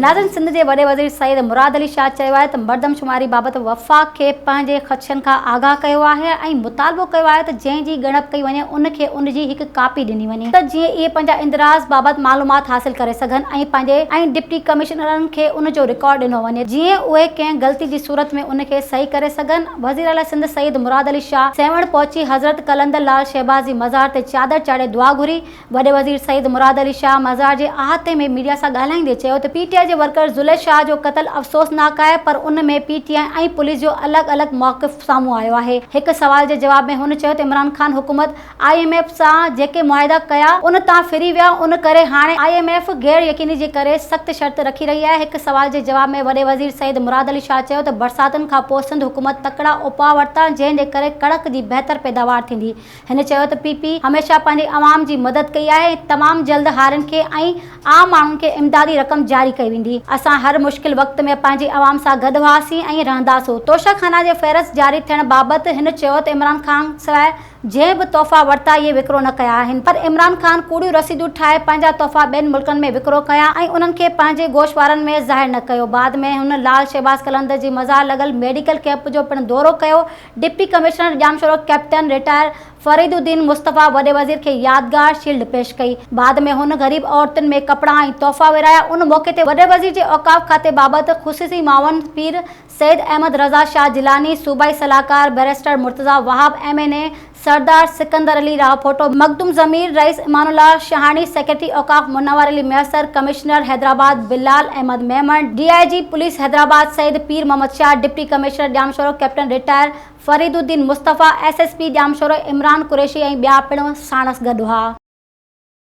ناظرين سنڌ جي وڏي وزير سيد مراد علي شاهه چيو آهي ته مردمشماري بابت وفاق کي پنهنجي خدشن کان آگاهه ڪيو آهي ۽ مطالبو ڪيو آهي ته جنهن جي ڳڻپ ڪئي وڃي ان کي ان جي هڪ ڪاپي ڏني وڃي ته جيئن اهي پنهنجا اندراز بابت معلومات حاصل ڪري سگهن ۽ پنهنجي ۽ ڊپٽي ڪمشنرن کي ان جو رڪارڊ ڏنو وڃي جيئن اهي ڪنهن غلطي جي صورت ۾ ان کي صحيح ڪري سگهن وزيراعليٰ سنڌ سيد مراد علي شاهه سيوهڻ پهچي حضرت قلندر لال شهباز جي مزار تي چادر چاڙهي دعا گهري وڏي وزير سيد مراد علي شاهه مزار جي احاطي ۾ ميڊيا سان ڳالهائيندي چيو ته پي ٽي آء جي ورڪر زليخ شاهه جو قتل افسوسناڪ آهي پر ان ۾ پي ٽي آء ۽ پوليس جو الڳ الڳ موقف سامهون آيو آهي. هڪ سوال جي جواب ۾ هن چيو ته عمران خان حڪومت آء ايم ايف سان جيڪي معاهدا ڪيا ان تان ڦري ويا ان ڪري هاڻي آء ايم ايف غير يقيني جي ڪري سخت شرط رکي رهي آهي. هڪ سوال جي جواب ۾ وڏي وزير سيد مراد علي شاهه چيو ته برساتن کانپوء سنڌ حڪومت تڪڙا اپاء ورتا جنهن جي ڪري ڪڻڪ جي بهتر پيداوار ٿيندي هن چيو ته پي پي هميشه پنهنجي عوام جي مدد ڪئي آهي ۽ تمام جلد هارين کي ۽ عام ماڻهن کي امدادي رقم جاري ڪئي ويندي، اسان هر مشڪل وقت ۾ پنهنجي عوام سان گڏ هئاسين ۽ رهنداسون، توشه خانه جي فهرست جاري ٿيڻ بابت هن چيو ته عمران خان سواء جنهن به تحفا ورتا اهي وڪرو نه ڪيا آهن پر عمران خان ڪوڙيون رسيدون ٺاهي پنهنجا تحفا ٻين ملڪن ۾ وڪرو ڪيا ۽ انهن کي پنهنجي گوشوارن ۾ ظاهر نه ڪيو، بعد ۾ هن لال شهباز قلندر جي مزار لڳل ميڊيڪل ڪئمپ جو پڻ دورو ڪيو، deputy commissioner Jamshoro captain retire Farid uddin Mustafa وڏي وزير کي يادگار شيلڊ پيش ڪئي، بعد ۾ هن غريب عورتن ۾ ڪپڙا ۽ تحفا ورهايا، ان موقعي تي وڏي وزير جي اوقاف کاتي بابت خصوصي معاون پير سيد احمد رضا شاهه جيلاني، صوبائي صلاحڪار barrister Murtaza Wahab, M N A Sardar Sikandar Ali Rao Photo, Makhdoom ضمير، رئيس امان الله شهاڻي، سيڪريٽري اوقاف Munawar Ali Mesar, commissioner Hyderabad Bilal Ahmed Memon, D I G police Hyderabad Syed Pir Muhammad Shah, deputy commissioner Jamshoro captain retire Farid uddin Mustafa, S S P Jamshoro Imran Qureshi ۽ ٻيا پڻ ساڻس گڏ هئا.